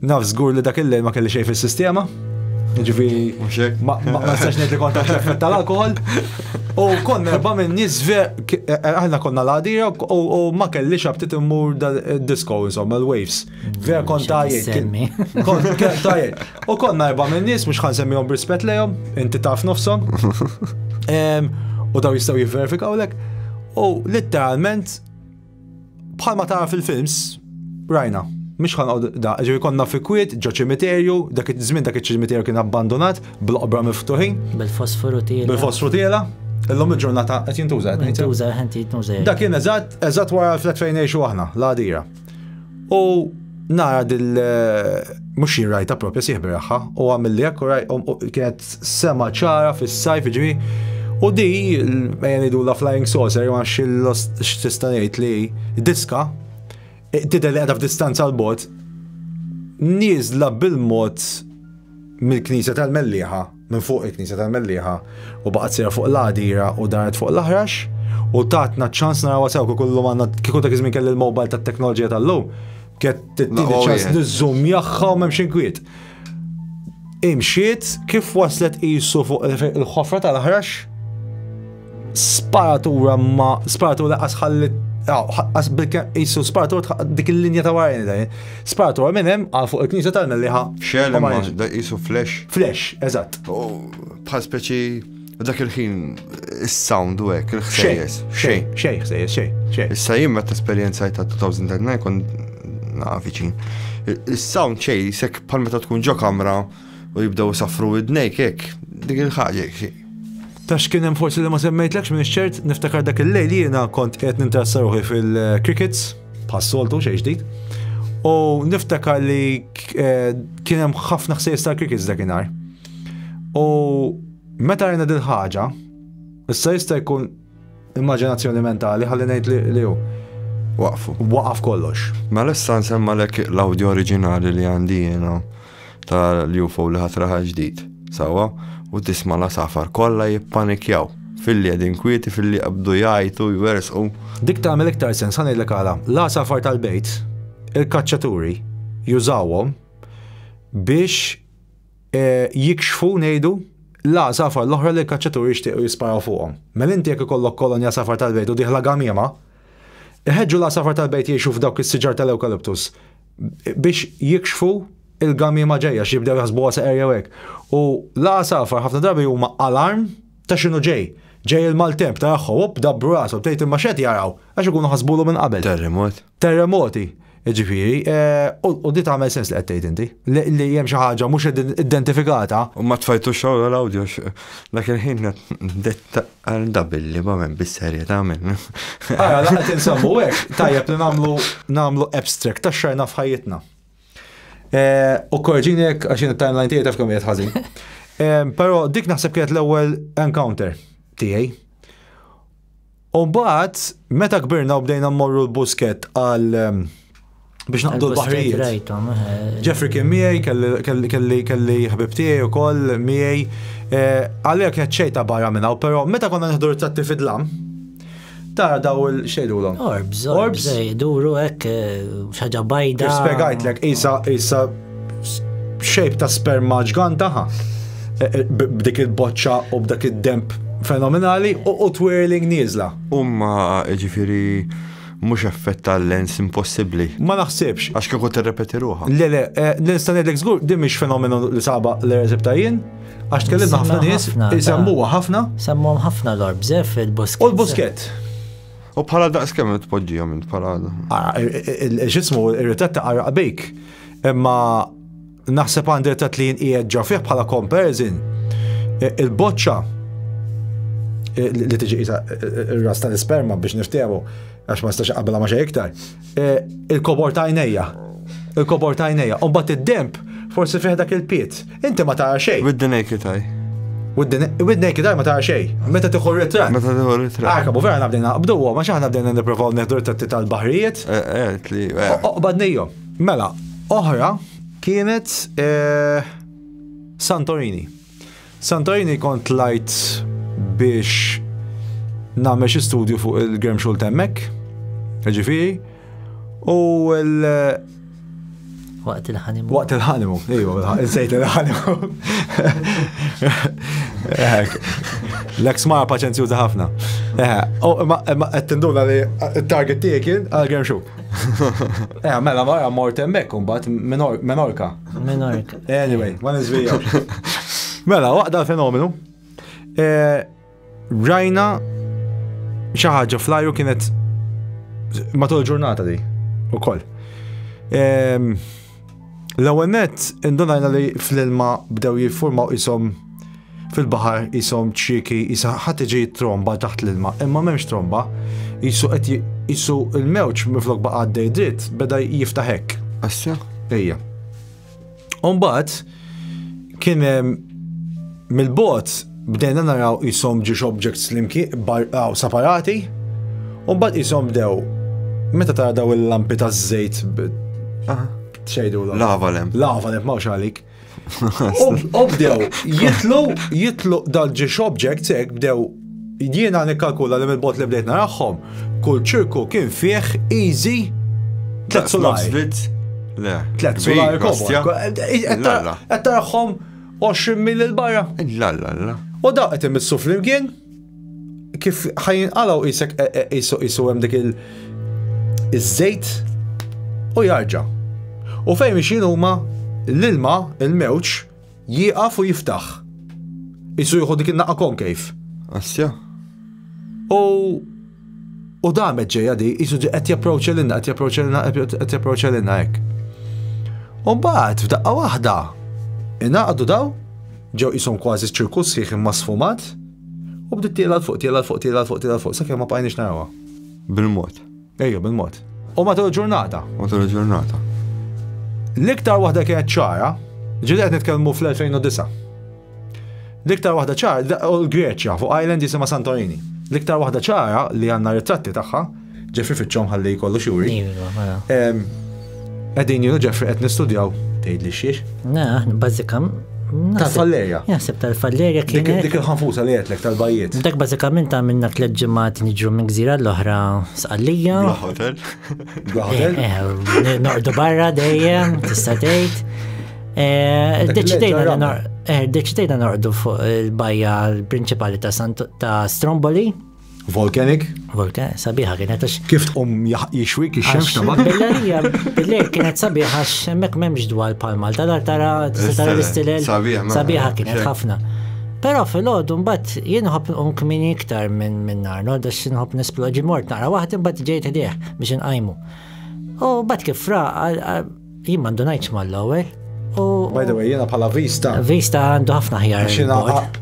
Naf żgur li dak il-lejl ma kelli xejn fis-sistema. Ġifieri. Mhux hekk. Ma nistax ngħid li kont effett tal-alkohol. U konna erba' minn nies ver k- eh, aħna konna l-għadira u u ma kelli xabtit immur dal-disco insomma l-waves. Ver kont Xi tajjeb. tissemmi. kien- Kont kien tajjeb. U konna erba' minn nies mhux ħan semmihom b'rispett lejhom, inti taf nofshom. Em, U daw jistgħu jivverifikaw lek. U litteralment Bħalma tara fil-films, rajna, mhux ħanqod da, ġew konna fi kwiet ġo ċimiterju, dak iż-żmien dak iċ-ċimiterju kien abbandonat bil-qbra miftuħin. Bil-fosforu tiela. Bil-fosforu tiela. Illum il-ġurnata qed jintuża qed jintuża qed jintuża. Dak kien eżatt eżatt wara l-flat fejn ngħixu aħna, l-għadira. U nara dil mhux jien rajta propja sieħ biraħħa u għamil li hekk u kienet sema ċara fis-sajf ġri. U di mejja ngħidu la flying saucer ma x'tista' ngħid li diska tidher li qiegħda f'distanza l bot nieżla bil-mod mill-knisja tal-Mellieħa minn fuq il-Knisja tal-Mellieħa u baqgħet sejra fuq l-għadira u daret fuq l-aħrax u tatna ċans naraw sew kieku llum għandna kieku dak iż-żmien kelli l-mobile tat-teknoloġija tal-lum kett tittini oh, ċans niżżum jagħha u m'hemm xi kwiet. Imxiet kif waslet qisu fuq il-ħofra tal-aħrax Sparatura ma sparatura qas ħalli qas bilkemm qisu sparatura dik il-linja ta' warajn dajn. Sparatura minn hemm għal fuq il-knisja tal-Melliħa. Xel ma da qisu flash. Flash, eżatt. Bħal speċi dak il-ħin is-sound u hekk il-ħsejjes. Xejn. Xejn ħsejjes, xejn. Xejn. Issa jien meta esperjenza ta' 2009 kon nafiċin. Is-sound xejn sekk bħal meta tkun ġo kamra u jibdew isaffru widnejk hekk, dik il-ħaġa Ta' x'kien hemm forsi li ma semmejtlekx minn ċert niftakar dak il-lejl jiena kont qed nintrassa ruħi fil-crickets bħas-soltu xejn ġdid. U niftakar li eh, kien hemm ħafna ħsejs tal-crickets dakinhar. U meta rajna dil-ħaġa, issa jista' jkun Immaġinazzjoni mentali ħalli ngħid li li hu. Waqfu. Waqaf kollox. Mela issa nsemmalek l-awdjo oriġinali li għandi jiena tal-UFO li ħatraħ ġdid. Sawa, u tisma' la safar kollha jippanikjaw fil-li qegħdin kwieti fil-li qabdu jgħajtu jwersqu. Dik tagħmel iktar sens ħa ngħidlek għala. La safar tal-bejt, il-kaċċaturi jużawhom biex e, jikxfu ngħidu, la safar l-oħra li l-kaċċaturi jixtiequ jisparaw fuqhom. Mela inti jekk ikollok kolonja safar tal-bejt u diħla gamiema, iħeġġu la safar tal-bejt jgħixu f'dawk is-siġar tal-ewkaliptus biex jikxfu il-gamiema ġejja x'jibdew jaħsbuha seqer jew hekk. U la safar ħafna drabi huma alarm ta' x'inhu ġej ġej il-maltemp ta' jaħħu, up, dabru rasu, btejt imma xed jaraw, għax ikunu ħasbulu minn qabel. Terremot. terremoti, Ġifieri, eh, u di tagħmel sens li qed tgħid inti, li hemm xi ħaġa mhux identifikata. U ma tfajtux xogħol l-awdjo dak il-ħin detta għal dabilli ma hemm bis-serje tagħmel. Ara, laqgħet insemmu hekk, tajjeb li nagħmlu nagħmlu abstract ta' xajna f'ħajjitna. Eh, u korġini hekk għax in timeline tiegħi taf kemm ħażin. Eh, però dik naħseb kienet l-ewwel encounter tiegħi U mbagħad meta kbirna u bdejna mmorru l-busket għal biex naqdu l-baħrijiet. Jeffrey kien miegħi, kelli kelli ħbib tiegħi wkoll miegħi. Għalija kienet xejta barra minn hawn, però meta konna neħdu rittratti fidlam, tara daw il-xejdulhom. Orbs, orbs, iduru hekk xaġa bajda. Spjegajtlek, isa isa shape ta' sperma ġgantaħa e, e, b'dik il-boċċa u b'dak id-demp fenomenali u twirling nieżla. Umma ġifiri mhux effett tal-lens impossibbli. Ma naħsibx. Għax kieku tirrepeti ruħa. Le le, e, nista' ngħidlek żgur din mhix fenomenu li saba l-erzib ta' jien, għax tkellimna ħafna nies, isemmuha ħafna. Semmuhom ħafna l-orbżef il-busket. U l-busket. U bħala daqs kemm tpoġġihom int bħala. Ah, x'ismu ir-ritratt ta' qaraq bejk. Imma naħseb għandi ta' tlin qiegħed ġa fih bħala comparison e, il-boċċa e, li tiġi e, r-ras tal-isperma biex niftehmu għax ma nistax qabla ma xejn iktar. Il-kobor ta' għajnejja. Il-kobor ta' għajnejja. U mbagħad id-demp forsi fih dak il-piet. Inti ma tara xejn. With the naked eye. With the naked eye ma tara xejn. Meta tieħu ritratt. Meta tieħu ritratt. Arka, bu vera nabdejna naqbdu, ma xaħna bdejna nipprovaw neħdu ritratti tal-baħrijiet. Eh, eh, li. Eh. Oqbad nejjom. Mela, oħra kienet eh, Santorini. Santorini kont lajt biex nagħmel xi studju fuq il-Graham Schultz hemmhekk, ġifieri, u l Waqt il-ħanimu. Waqt il-ħanimu, iju, insejt il-ħanimu. L-eks mara paċenzjuza ħafna. U ma qed tinduna li t-target tiegħi kien għal-Graham Schultz. Eh, mela mara mort hemmhekk imbagħad Menorka. Menorka. Anyway, ma niżvija. Mela, waqda l-fenomenu. Eh, rajna xi ħaġa flajru kienet matul ġurnata di ukoll. Ehm, L-ewwel nett indunajna li fl-ilma bdew jiffurmaw ishom fil-baħar ishom ċrieki isa ħadd iġi tromba taħt l-ilma, imma m'hemmx tromba, jisu qed jisu l-mewġ minflok baqa' għaddej dritt beda jiftaħ hekk. Assa? Ejja. Umbagħad Kien mill-bot bdejna naraw jisom ġiex objects l-imki barqaw separati, u bad jisom bdew meta tara daw il-lampi ta' żejt xejdu l Lava lem. Lava lem, mawx għalik. Obdew, jitlu, jitlu dal-ġiex objects ek bdew Jiena nikkalkula li mill-bot li bdejt narahom, kull ċirku kien fih easy tlet solari. Tlet solari kobja. Qed tarahom 20 mil il-barra. La la la. U dawk qed imissu flimkien kif ħajin qalaw isek e- e- isu isu hemm dik il- iż-żejt u jarġa'. U fejn mixin huma l-ilma, il-mewġ, Jieqaf u jiftaħ. Isu jieħu dik in-naqqa konkejf. Assja. U U damet ġeja di, jisu di qed japproċċa lilna, qed japproċċa lilna, qed japproċċa lilna hekk. U mbagħad f'daqqa waħda inaqdu daw, ġew qishom kważi ċirkus sħiħ imma sfumat, u bdiet tiela fuq, tiela fuq, tiela fuq, tiela fuq, sakemm ma bqajniex narawha. Bil-mod. Ejjew bil-mod. U matul il-ġurnata. Matul il-ġurnata. L-iktar waħda kienet ċara, ġili qed nitkellmu fl-2009. L-iktar waħda ċara, u l-Greċja, fuq island jisima Santorini. L-iktar waħda ċara li għanna ritratti tagħha, ġefri fiċċom ħalli kollu xuri. Iva, mela. Qegħdin jienu Ġeffri qed nistudjaw tgħidli xiex? Na, bażika Tal-fallerja. Jaħseb tal-fallerja kien. Dik il-ħanfusa li għetlek tal-bajiet. Dak bażikament għamilna tliet ġimgħat niġru minn gżira l-oħra sqallija. Hotel. Hotel. Eh, eh, Nordu barra dejjem, tista' tgħid. Eh, deċidejna norqdu fuq il-bajja l-prinċipali ta' Stromboli. Volcanic? Volcanic, sabiħa kienet għax. Kif tqum jixwik ix-xemx ta' mat? Bellerija, billejl kienet sabiħa għax hemmhekk m'hemmx dwar pal Malta, dar tara tara l-istilel. Sabiħa kienet ħafna. Però fil-ħodu mbagħad jien ħobb nqum kmini iktar minn minn nar, nod għax nħobb nisploġi mort nara waħed imbagħad ġejt ħdejh biex inqajmu. U bat kif fra Jien ma ndunajtx mal-ewwel. By the way, jiena bħala Vista. Vista għandu ħafna ħjar. Xina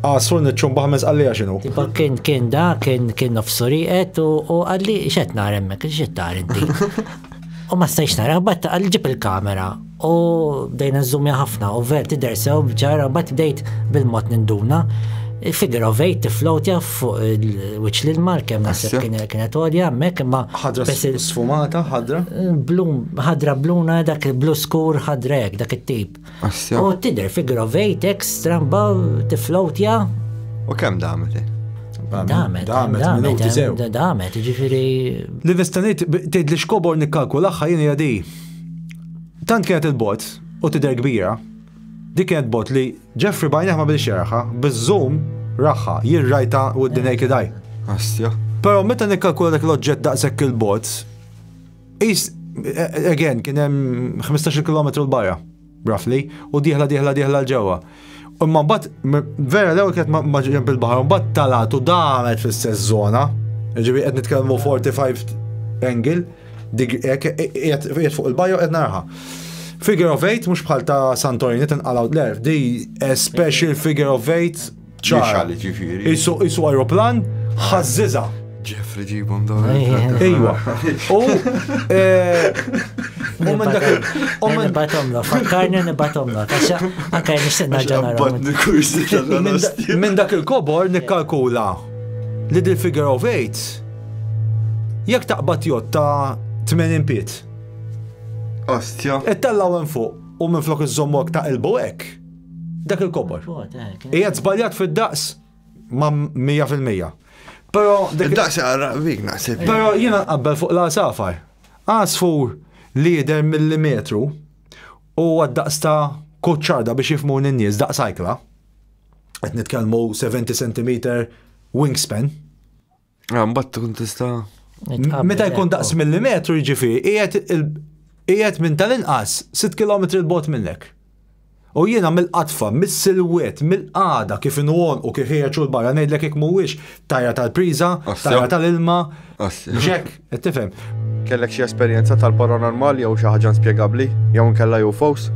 għasur nitxum baħmez għalli għaxinu. Tipo kien kien da, kien kien nofsuri għet u għalli xet naremmek, kien xet narenti. U ma stajx nara, bat għalli ġib il-kamera u bdejna zoomja ħafna u ver tider sew bġara bat bdejt bil-mod ninduna. Figure of eight, float jaf, fuq il-wiċċ l-ilmar kemm naħseb kienet għolja hemmhekk imma ħadra sfumata ħadra? Blum, ħadra bluna dak il-blu skur ħadra hekk dak it-tip. U tidher fi grovejt ekstra mba tiflowtja. U kemm damet? Damet, damet, damet, ġifiri. L-investanit, tgħid li xkobor nikkalkulaħħa jien jadi. Tant kienet il-bot u tidher kbira. Dik kienet bot li Jeffrey b'għajnejh ma bdiex jaraha, biż-zoom raha, jien rajtha with the naked eye. Asja. Però meta nikkalkula dak l-oġġett daqshekk 'il bogħod, qis, again, kien hemm ħmistax-il kilometru 'l barra, roughly, u dieħla dieħla dieħla 'l ġewwa. Imma mbagħad, vera l-ewwel kienet ma' ġenb il-baħar u mbagħad talgħet u damet fl-istess żona, jiġifieri qed nitkellmu 45 angle, Qiegħed fuq il-bajo qed narha. Figure of eight mhux bħal ta' Santorini tinqalgħu l-erf, di a special figure of eight ċara. Isu isu aeroplan ħażżiża. Jeffrey ġibhom dawn. Ejwa. U eh, u minn dak u minn batomla, fakkarni nibatomla, taxxa anke nistenna ġenara. Minn dak il-kobor nikkalkula li dil-figure of eight Jekk taqbad jott ta' 80 piet. Ostja. Ittellaw hemm fuq u minn flok iżommok ta' ilbu hekk. Dak il-kobor. Hija żbaljat fid-daqs ma' 100%. Però id-daqs għarraq vik naħseb. Però jiena nqabbel fuq l-għasafar. Għasfur li jidher millimetru u għad-daqs ta' kuċċarda biex jifmu n-nies daqs ajkla. Qed nitkellmu 70 cm wingspan. Għambat ah, tkun tista. Meta jkun daqs millimetru ġifi, ijet minn tal-inqas 6 km il-bot minnek. U jiena mill-qatfa, mill-silwet, mill-qada kif inwon u kif hija ċur barra ngħidlek jekk mhuwiex tajja tal-priża, tajja tal-ilma. Ġek, qed tifhem. Kellek xi esperjenza tal-paranormal jew xi ħaġa spjegabbli jew nkella jew fos?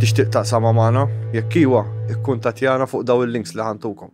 Tixtieq taqsama magħna? Jekk iwa, ikkun tatjana fuq daw il-links li ħantukom.